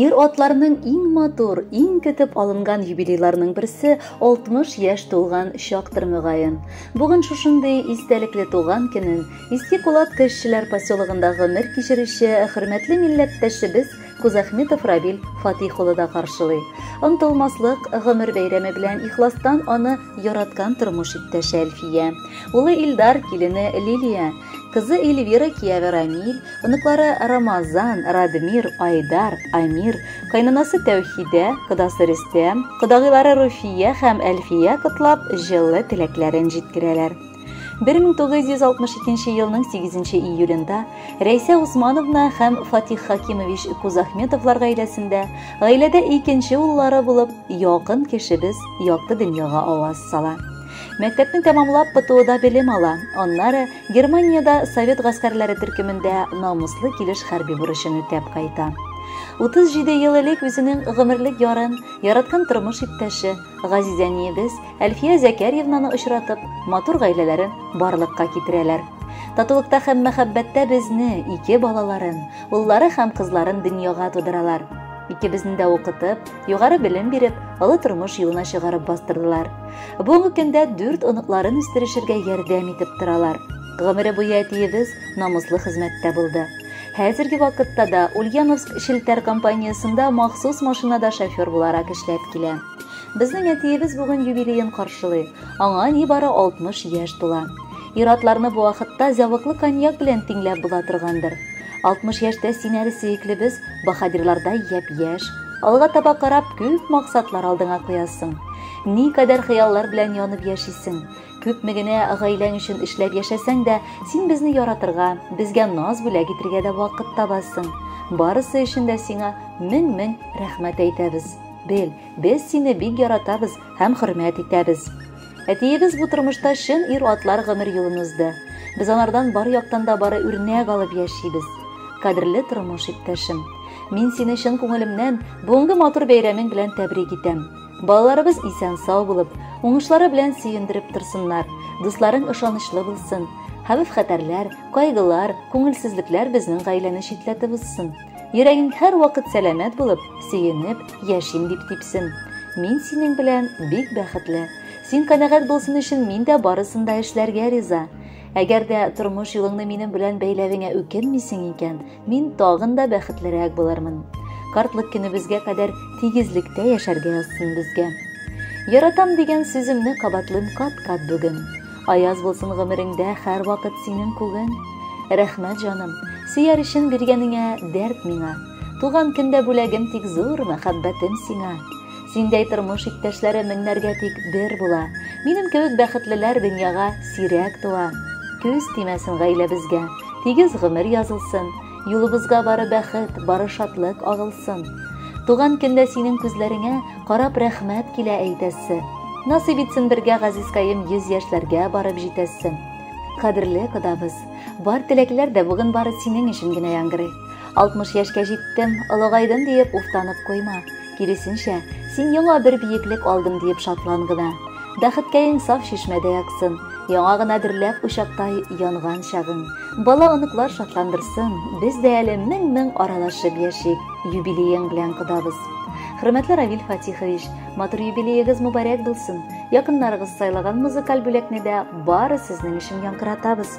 Ир-атларның иң матур, иң көтеп алынган юбилейларының берсе 60 яшь тулган чактыр мөгаен. Бүген шушындый истәлекле туган көнен Иске Кулат кешеләр поселогында гомер кичерүче хөрмәтле милләттәшебез Кузахметов Равил Фатих улы да каршылый. Онтылмаслык гомер бәйрәме белән ихластан аны яраткан тормыш иптәше Әлфия, улы Илдар, килене Лилия, кызы Эльвира, кияве Рамил, оныклары Рамазан, Радмир, Айдар, Амир, кайнанасы Тәүхидә, кодасы Рөстәм, кодагыйлары Руфия һәм Әлфия котлап, җылы теләкләрен җиткерәләр. 1962 елның 8 июлендә Рәйсә Усмановна һәм Фатих Хакимович Кузахметовлар гаиләсендә, гаиләдә икенче уллары булып, якын кешебез якты дөньяга аваз сала. Мәктәпне тәмамлап ПТУда белем ала, аннары Германиядә Совет гаскәрләре төркемендә намуслы килеш хәрби бурычын үтәп кайта. 37 ел элек үзенең гомерлек ярын, яраткан тормыш иптәше, Газизә әниебез Әлфия Зәкәрьевнаны очратып, матур гаиләләрен барлыкка китерәләр. Татулыкта һәм мәхәббәттә безне, ике балаларын, уллары һәм кызларын дөньяга тудыралар. Икебезне дә укытып, югары белем биреп, олы тормыш юлына чыгарып бастырдылар. Бүгенге көндә дүрт оныкларын үстерешергә ярдәм итеп торалар. Гомере буе әтиебез намуслы хезмәттә булды. Хәзерге вакытта да Ульяновск челтәр компаниясендә махсус машинада шофер буларак эшләп килә. Безнең әтиебез бүген юбилеен каршылый. Аңа нибары 60 яшь тула. Иратларны бу вакытта зәвыклы коньяк белән тиңләп була торгандыр. 60 яшьтә син әле сөеклебез, баһадирлардай япь-яшь. Алга таба карап күп максатлар алдыңа куясың. Никадәр хыяллар белән янып яшисең. Күпме генә гаиләң өчен эшләп яшәсәң дә, син безне яратырга, безгә наз бүләк итергә дә вакыт табасың. Барысы өчен дә сиңа мең-мең рәхмәт әйтәбез. Бел, без сине бик яратабыз һәм хөрмәт итәбез. Әтиебез бу тормышта чын ир атлар гомер юлын узды. Без анардан бар яктан да бары үрнәк алып яшибез. Кадерле тормыш иптәшем, мин сине чын күңелемнән бүгенге матур бәйрәмең белән тәбрик итәм. Балаларыбыз исән-сау булып, уңышлары белән сөендереп торсыннар, дусларың ышанычлы булсын, хәвеф-хәтәрләр, кайгылар, күңелсезлекләр безнең гаиләне читләтеп узсын. Йөрәгең һәрвакыт сәламәт булып, сөенеп, яшим дип типсен. Мин синең белән бик бәхетле. Син канәгать булсын өчен мин дә барысын да эшләргә риза. Әгәр дә тормыш юлыңны минем белән бәйләвеңә үкенмисең икән, Мин тагын да бәхетлерәк булырмын. Картлык көнебезгә кадәр тигезлектә яшәргә язсын безгә. Яратам дигән сүземне кабатлыйм кат-кат бүген. Аяз булсын гомереңдә һәрвакыт синең күген. Рәхмәт, җаным, сөяр өчен биргәнеңә дәрт миңа. Туган көндә бүләгем тик зур мәхәббәтем сиңа. Синдәй тормыш иптәшләре меңнәргә тик бер була. Минем кебек бәхетлеләр дөньяга сирәк туа. Күз тимәсен гаиләбезгә, тигез гомер язылсын. Юлыбызга бары бәхет, бары шатлык агылсын. Туган көндә синең күзләреңә карап рәхмәт килә әйтәсе. Насыйп итсен бергә газизкаем 100 яшьләргә барып җитәсе. Кадерле кодабыз, бар теләкләр дә бүген бары синең өчен генә яңгырый. 60 яшькә җиттем, олыгайдым диеп уфтанып куйма. Киресенчә, син яңа бер биеклек алдым диеп шатлан гына. Бәхеткәең саф чишмәдәй аксын, яңа гына дөрләп учактай янган чагың. Бала-оныклар шатландырсын, без дә әле мең-мең аралашып яшик, юбилеең белән кодабыз. Хөрмәтле Равиль Фатихович, матур юбилеегыз мубарәк булсын. Якыннарыгыз сайлаган музыкаль бүләкне дә бары сезнең өчен яңгыратабыз.